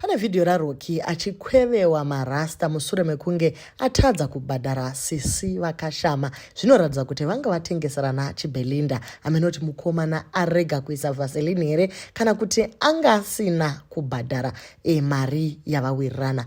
Pane vhidhiyo raRoki achikwevewa marasta musure mekunge atadza kubhadhara sisi vakashama zvinoratidza kuti vanga vatengeserana chibelinda amenoti mukomana arega kuisa vaselini here kana kuti anga asina kubhadhara e, mari yavawirirana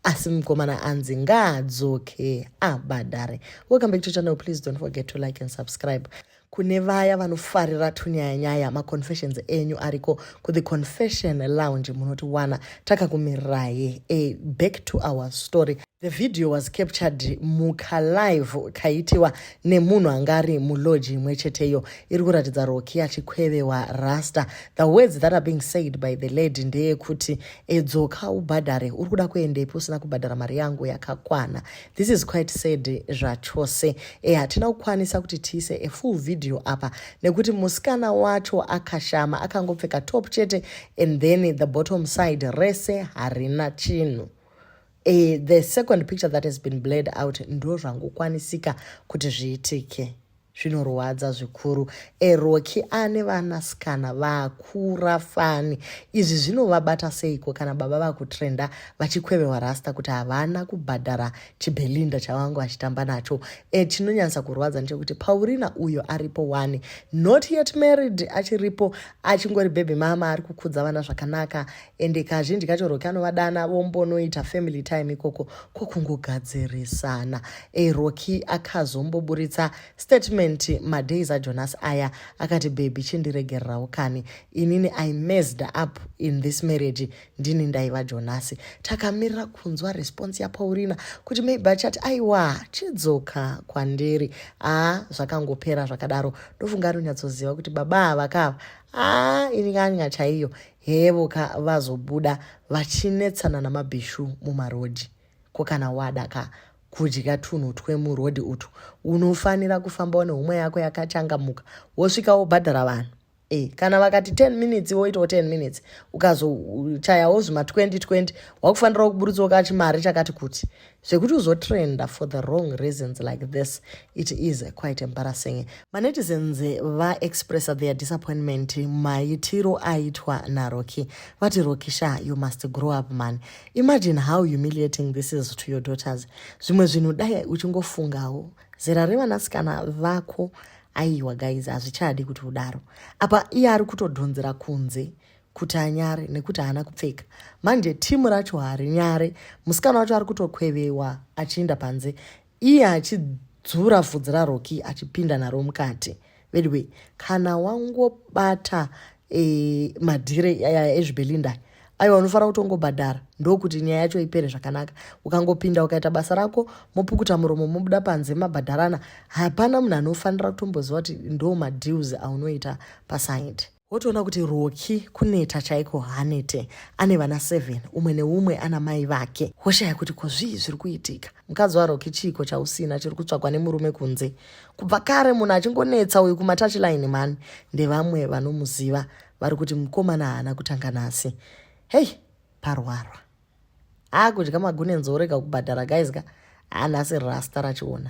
asi mukomana anzi ngaadzoke abhadhare welcome back to channel please don't forget to like and subscribe kune vaya vanofarira tunyayanyaya maconfessions enyu ariko kuThe Confession Lounge munotiwana takakumirayi a back to our story the video was captured mukalive kaitiwa nemunhu anga ari muloji imwe cheteyo iri kuratidza roki achikwevewa rasta the words that are being said by the lady ndeyekuti edzoka ubhadhare uri kuda kuendepi usina kubhadhara mari yangu yakakwana this is quite sad zvachose e hatina kukwanisa kuti tiise a full video apa nekuti musikana wacho akashama akangopfeka top chete and then the bottom side rese harina chinhu e, the second picture that has been bled out ndo zvangokwanisika kuti zviitike zvinorwadza zvikuru eroki ane vanasikana vakura fani izvi zvinovabata seiko kana baba vakutrenda vachikwevewa rasta kuti havana kubhadhara chibelinda chavangu achitamba nacho e chinonyanyisa kurwadza ndechekuti paurina uyo aripo wani not yet married achiripo achingori bhebhi mama ari kukudza vana zvakanaka ende kazhinji kacho roki anovadana vombonoita family time ikoko kokungogadzirisana e roki akazomboburitsa statement madays ajonas aya akati bhebhi chindiregererawo kani inini i mesed up in this marriage ndini ndaiva jonasi takamirira kunzwa response yapaurina kuti maybe achati aiwa chidzoka kwandiri aa ah, zvakangopera zvakadaro ndofunga anonyatsoziva kuti baba avakava aa ah, ini kanya chaiyo Hevo ka vazobuda vachinetsana namabhishu mumarodhi. Ko kana wada ka kudya tunhu twemurodhi utu unofanira kufambawo nehumwe yako yakachangamuka wosvika wobhadhara vanhu. E, kana vakati 10 minutes woitawo 10 minutes ukazochayawo zvima 2020 wakufanirawo kuburitsawo kachimari chakati kuti zvekuti uzotrenda for the wrong reasons like this it is quite embarrassing manetizens vaexpressa their disappointment maitiro aitwa naroki vati roki sha you must grow up man imagine how humiliating this is to your daughters zvimwe zvinhu dai uchingofungawo zera revanasikana vako aiwa guys hazvichadi kuti udaro apa iye ari kutodhonzera kunze kuti anyare nekuti haana kupfeka manje timu racho harinyare musikana wacho ari kutokwevewa achiinda panze iye achidzura vhudzi raroki achipinda naro mukati veduway kana wangobata e, madhire ezvibelinda e, aiwa unofanira kuti ungobhadhara ndokuti nyaya yacho ipere zvakanaka ukangopinda ukaita basa rako mopukuta muromo mobuda panze mabhadharana hapana munhu anofanira kutomboziva kuti ndo madeals aunoita pasaidi wotoona kuti roki kuneta chaiko haanete ane vana 7 umwe neumwe ana mai vake woshaya kuti ko zvii zviri kuitika mukadzi waroki chiiko chausina chiri kutsvagwa nemurume kunze kubva kare munhu achingonetsa uyu kumatachiline mani ndevamwe vanomuziva vari kuti mukomana haana kutanga nhasi hei parwarwa haa kudya magune nzorega kubhadhara guys ka haa nhasi rasta rachiona